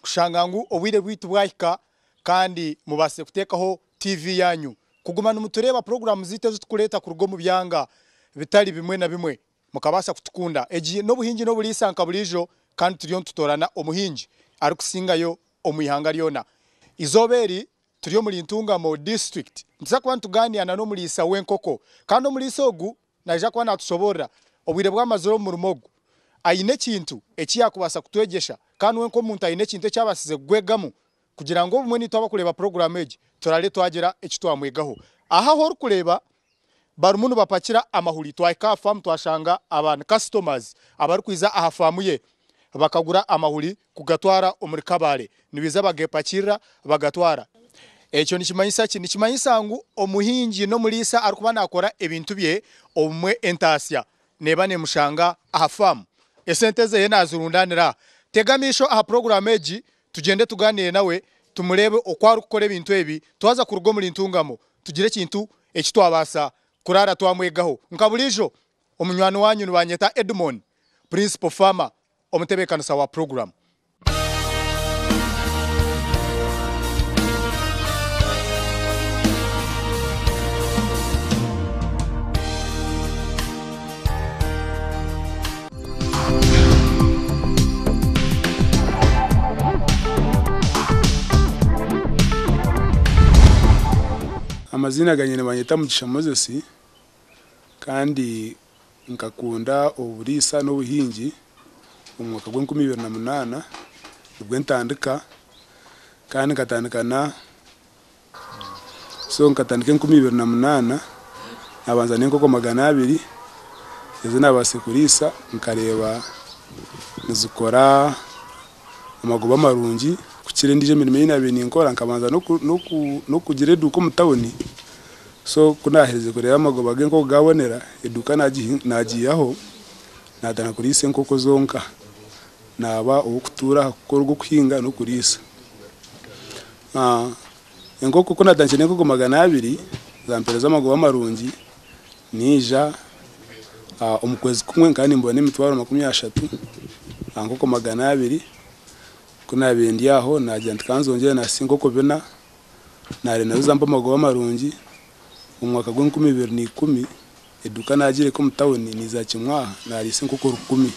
kushanga ngu obwire bwaitu bwahika kandi mubaasire kuteekaho tiivi yaanyu. Kuguma nimutureeba puroguraamu zaitu ezi turikureeta kuruga omu byanga bitari bimwe na bimwe, mukabaasa kutukunda. Egi n'Obuhingi n'Oburiisa nka buriijo kandi turiyo nitutoorana omuhingi arikusingayo omu ihanga ryona. Eizooba eri turi omuri Ntungamo Disiturikiti, nituza kuba nitugaaniira n'omuriisa w'enkoko kandi omuriisa ogu Naija kuba naatushoboorora obwire bwamazire omu murimo ogu. Aine ekintu eki yaakubaasa kutwegyesha, kandi we nk'omuntu aine ekintu eki abaasize kugwegamu kugira ngu obumwe naitwe abarikureeba puroguraamu egi turare twagira eki twamwegaho. Aha ahu orikureeba barimu nibapakira amahuri, twahika aha faamu twashanga aba ni kasitomazi abarikwija aha faamu ye bakagura amahuri. kugatwara omuri Kabale nibaija bagepakirira bagatwara. Ekyo nikimanyisa ki? Nikimanyisa ngu omuhingi n'omuriisa arikuba naakora ebintu bye obumwe entaasya neeba neemushanga aha faamu. Esente ze naazirundaanira aha. Tega amaisho aha puroguraamu egi tugyende tugaaniire nawe tumureebe oku arikukora ebintu ebi twaza kuruga omuri Ntungamo tugire ekintu eki twabaasa kuraara twamwegaho. Nka buriijo omunywani waanyu nibaanyeta Edmon, Principal Farmer. Omutebeekanisa wa puroguramu. Amaziina ganye nibanyeta Mugisha Moses kandi Nkakunda oburiisa n'obuhingi omu mwaka gwa enkumi ibiri na munaana nibwo ntandika kandi nkatandika na so nkatandika enkumi ibiri na munaana nabanza n'enkoko magana abiri ezi nabaase kuriisa nkareeba nizikora amagoba marungi kukira endiijo mirimo ei nabaire ninkora nkabanza n'okugira eduuka omu tawuni So ku naaherize kureeba amagoba ge nk'oku gaabonera, eduuka naagiihaho, naatandika kuriisa enkoko zonka. Naaba ow'okutuura aha kukora ogw'okuhinga n'okuriisa. Enkoko ku naatandikire n'enkoko magana abiri, zaampeereza amagoba marungi. Naija omu kwezi kumwe nkaba nimbona emitwaro makumi ashatu aha nkoko magana abiri. Ku naabiire ndi aho naagira nti kanzongyere naasiisa enkoko bina. naare nazo zampa amagoba marungi. Omu mwaka gw'enkumi ibiri na ikumi, eduuka naagireeka omu tauni niiza kimwaha naariisa enkoko rukumi.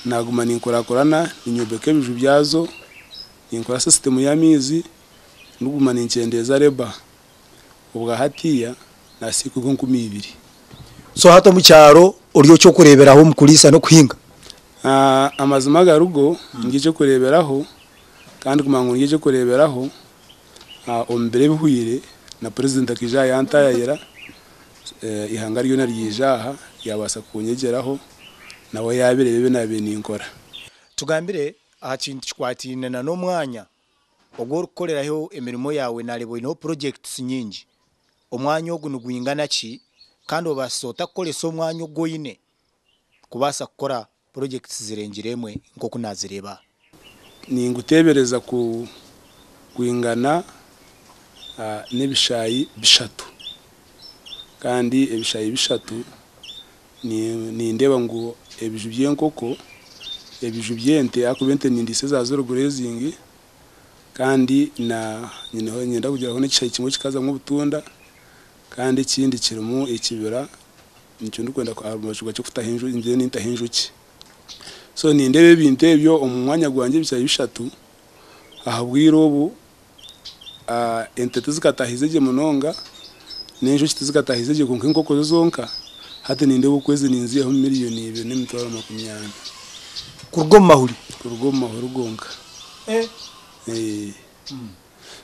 Naaguma ninkurakurana ninyombeka ebiju byazo, ninkora sisitimu y'amaizi, ndikuguma ninkyendeeza reeba. Obwa hatiiya naasiika enkoko enkumi ibiri. So hati omu kyaro ori oky'okureeberaho omu kuriisa n'okuhinga? Amazima agari go, ndi eky'okureeberaho Kandi kumanya ngu ndyegye kureeberaho omu biro ebihwaire na Purezidenti akaija aha yantaayaayira, eihanga ryona ryaija aha ryabaasa kunyegyeraho nawe yaabireeba ebi naabaire ninkora. Tugambire aha kintu kikwataine na n'omwanya ogu orikukoreraho emirimo yaawe, naareeba oineho projects nyingi. Omwanya ogu nigwingana ki kandi obaasize ota kukoresa omwanya ogu oine kubaasa kukora Projects zirengire emwe nk'oku nazireeba. Ninguteebereza ku gwingana n'ebishaayi bishatu kandi ebishaayi bishatu nindeeba ngu ebiju by'enkoko, ebiju by'ente ahakuba ente nindiisa eza zero grazing kandi niinyenda kugira hoo n'ekishaayi kimwe kikazamu obutunda Kandi ekindi kirimu ekibira nikyo ndikwenda aha rubaju rwakyo kutaho enjoki ngyende nintaho enjoki so nindeeba ebintu ebyo omu mwanya gwangye ebikyaayi bishatu ahabwire obu ente tizikataahize gye munonga n'enjoki tizikataahize gye kwonka enkoko zo zonka hati nindeeba oku ezi ninzihaho million ibiri n'emitwaro makumi ana kuruga omu mahuri kuruga omu mahuri gonka eeh.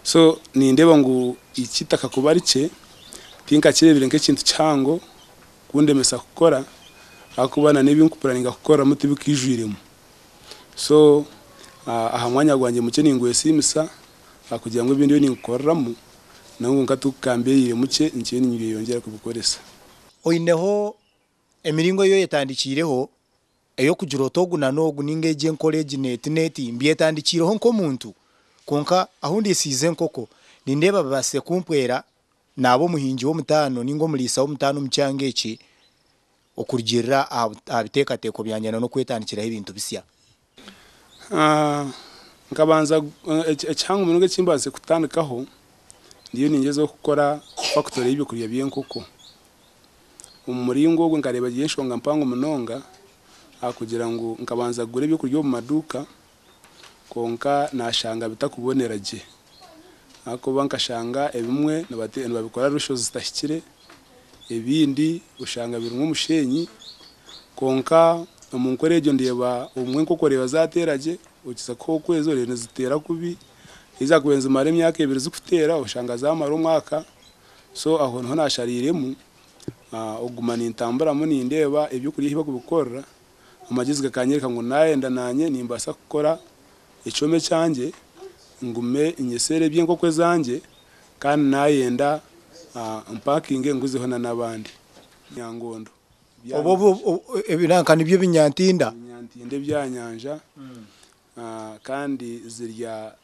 So nindeeba ngu eitaka kuba rikye tinkakireebire nk'ekintu kihango kundemesa kukora ahakuba na n'ebi ndikupuraninga kukoreramu tibikaijwiremu. So aha mwanya gwangye mukye ningwesiimisa ahakugira ngu ebi ndiyo ninkukoreramu nabwo nka tu kambeereire mukye nikyo ninyeyongyera kubikoresa. Oineho emiringo ei oyetandikiireho Ey'okugira oti ogu na n'ogu nainga egi enkora egi n'eti n'eti mbyetandikiireho nk'omuntu, kwonka ahu ndiisiize enkoko, nindeeba babaasize kumpwera naaba omuhingi w'omutaano nainga omuriisa w'omutaano omu kyanga eki okurugiirira aha biteekateeko byangye na n'okwetandikiraho ebintu bisya. Nkabanza ekihango munonga eki mbaasize kutandikaho, ndiyo ningyezaho kukora fakitori y'eby'okurya by'enkoko. Omu muringo ogwo nkareeba giri enshonga mpango munonga ahakugira ngu nkabanza kugura eby'okurya omu maduuka kwonka naashanga bitakubonera gye ahakuba nkashanga ebimwe nibabikora rusho zitahikire, ebindi oshanga birimu omusheenyi kwonka omu nkora egyo ndeeba obumwe enkoko oreeba zaateera gye okiza kuha okwezi oreeba niziteera kubi, haza kuba nizimara emyaka ebiri zikuteera oshanga zaamara omwaka So aho niho naashariiremu okuguma nintamburamu nindeeba eby'okurya ebi barikubikorera. Amagyeezi gakanyoreka ngu naayenda naanye nimbaasa kukora ekyoma ekyangye ngume nyeseere eby'enkoko ezangye kandi naayenda mpakinge nguzeho n'abandi. Nyangondo. Obwo ebinanka nibyo ebinyantinda. Ebinyantinda eby'aha nyanja kandi zirya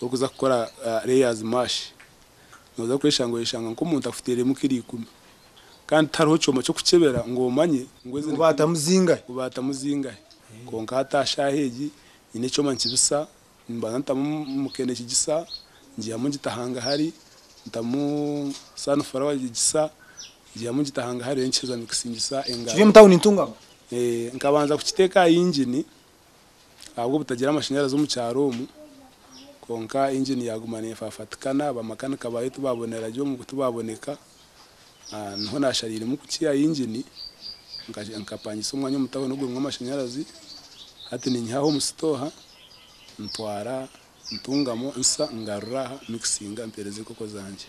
orikuza kukora layers mash noza kweshanga oyeshanga nka omuntu akufutiiremu kilo ikumi kandi tihariho kyoma kyokukyebera ngu omanye ngu ezi obaatamu zingahe kwonka hati aha shaaha egi nyine ekyoma nikibisa nimbanza nitamu muke nikigisa ngihamu ngita hangahari ntamu sunflower nikigisa ngihamu ngita hangahari reero nikiheza nikisingisa engaro nkabanza kukiteeka aha engine ahabw'obutagira amashanyarazi omu kyaro omu, kwonka engine yaguma nefafatikana, bamakanika baayo tibabonera gye omu tibaboneka, niho nashariiremu kukiha engine, nkapangisa omwanya omu tawuni ogurimu amashanyarazi, hati ninyihaho omu sitooha, ntwara, ntungamu, nsa, ngarura aha, mixinga mpeereza enkoko zangye.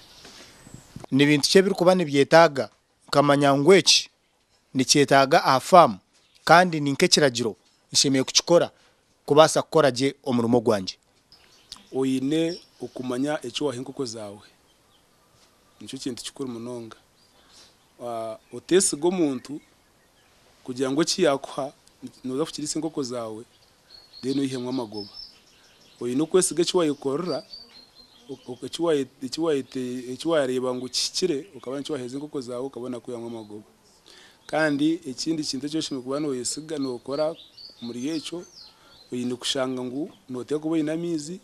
Ni bintu ki ebirikuba nibyetaaga? Nkamanya ngu eki nikyetaaga aha faamu kandi ni nk'ekiragiro nshemereire kukikora kubaasa kukora gye omurimo gwangye. Oine okumanya eki waha enkoko zaawe. Nikyo kintu kikuru munonga. Oteesiga omuntu kugira ngu eki yaakuha nooza kukiriisa enkoko zaawe. then oyihemu amagoba. Oyine okwesiga eki wayekorera, eki wareeba ngu kihikire okaba nikyo waheereza enkoko zaawe okaba onakwihamu amagoba. Kandi ekindi kintu eki oshemereire kuba noyesiga nokora omuri ekyo, oyine kushanga ngu noteeka kuba oyine amaizi.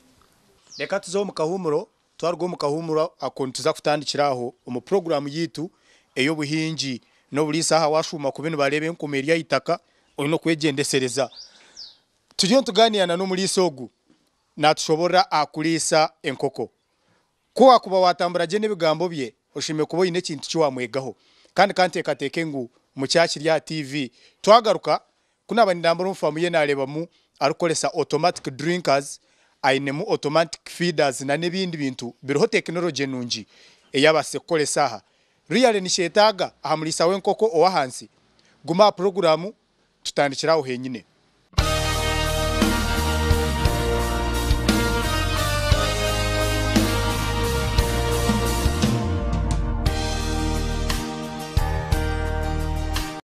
Reka tuze omu kahuumuro Twaruga omu kahuumuro ako nituza kutandikira aho omu puroguraamu yaitu ey'obuhingi n'oburiisa. Aha waashuuma kubi nibareeba enkuuma eri aha itaka, oine okwegyendesereza. Turiyo nitugaaniira na n'omuriisa ogu naatushoboorora aha kuriisa enkoko. Ku waakuba waatambura gye n'ebigambo bye, oshemereire kuba oine ekintu ki waamwegaho. Kandi ka nteekateeke ngu mukyakiri aha tiivi. Twagaruka, Ku naaba nindambura omu faamu ye naareebamu arikukoresa automatic drinkers, ainemu automatic feeders nana ebindi bintu biriho tekinologye nungi ei abaasize kukoresa aha. Really nikyeetaaga aha muriisa w'enkoko ow'ahansi? Guma aha puroguraamu tutandikire aho heenyine.